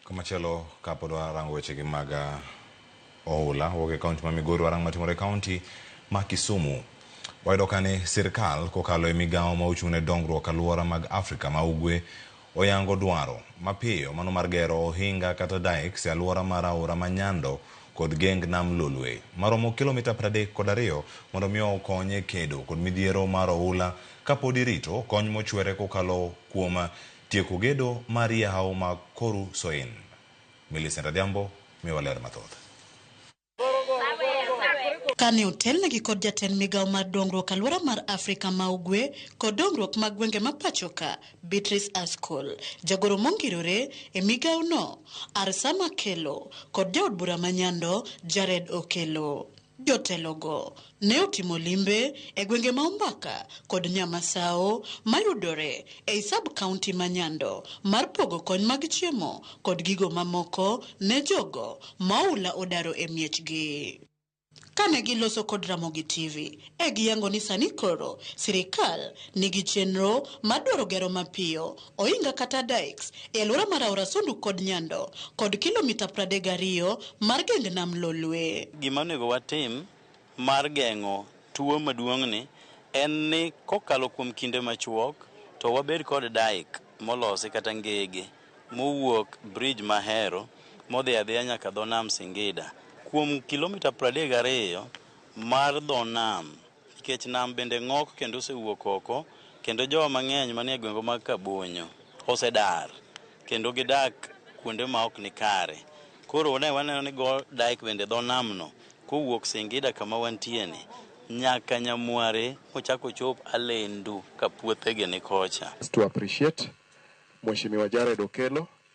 Komachielo kapod warango wechegi mag ah, ohula wuok e kaunti ma Migori warang matimore e kaunti ma Kisumu. Wayudo ka ni sirkal kokalo e migawo ma ochung' ne dongruok alwora mag Afrika ma Ugwe oyango dwaro mapiyo mano mar gero ohinga kata dikes e alwora mar aora ma Nyando kod geng nam Lolwe maromo kilomita 30 kod ariyo mondo mi okony e kedo kod midhiero mar ohula kapod irito kony mochwere kokalo kuom Tieko gedo mar yawo mag Koru Soin. Millicent Adhiambo miwa ler mathoth. Kane otelnegi kod jatend migao mar dongruok aluora mar Afrika ma Ugwe kod dongruok mag gwenge ma pachoka Beatrice Askol, jagoro mongirore e migao no Arsama Kello kod jaod bura ma Nyando Jared Okello. Jotelogo ne otimo limbe e gwenge ma Umbaka kod Nyamasawo mayudore ei sub-county ma Nyando mar pogo kony mag chiemo kod gigo mamoko ne jogo ma oula odaro e miechgi. Kane giloso kod Ramogi TV e giyango ni sani koro sirikal nigi chenro mar dwaro gero mapiyo Ohinga kata dikes e alwora mar aora Sondu kod Nyando kod kilomita pradek gariyo mar geng nam Lolwe. Gima onego watim mar geng'o tuo maduong'ni en ni kokalo kuom kinde machuok to wabed kod dike molosi kata ngege mowuok bridge ma Hero modhi adhiya nyaka dho nam Singida kuom kilomita pradek gariyo mar dho nam. Nikech nam bende ng'ok kendo osewuok oko, kendo jowa mang'eny manie gwengwa mag Kabonyo osedar kendo gidak kuonde ma ok nikare. Koro ne waneno ni go dike bende dho namno kowuok Singida kama wantieni nyaka Nyamware mochak ochop Alendu ka puothegi ni kocha. To appreciate Mheshimiwa Jared Okello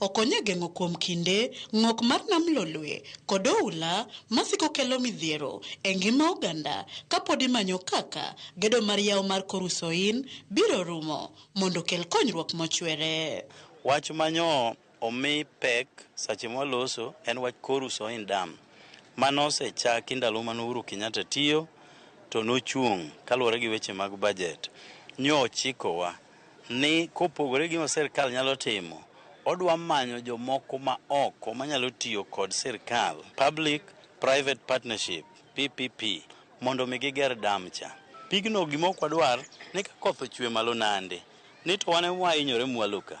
Okonyo e geng'o kuom kinde ng'ok mar nam lolwe kod oula masiko kelo midhiero e ngima oganda kapod imanyo kaka gedo mar yawo mar kor Usoin biro rumo mondo okel konyruok mochwere. Wach manyo omi pek sache mwaloso en wach kor Usoin Dam manose chaki ndalo mane Uhuru Kenyatta tiyo to nochung' kaluwore gi weche mag budget. Nyo ochikowa ni kopogore gima sirkal nyalo timo, odwa manyo jomoko ma oko manyalo tiyo kod sirkal, Public Private Partnership, PPP, mondo mi giger dam cha. Pigno gima ok wadwar ni ka koth ochwe malo nande, ni to wan ema wahinyore mwalo ka.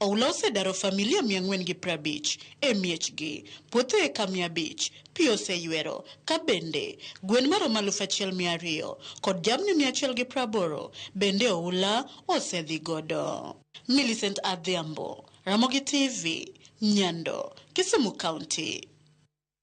Oula osedaro familia mia ang'wen gi prabich e miechgi, puothe eka mia abich pi oseywero, ka bende gwen maromo alufu achiel mia ariyo kod jamni mia achiel gi praboro bende oula osedhi godo. Millicent Adhiambo, Ramogi TV, Nyando, Kisumu County.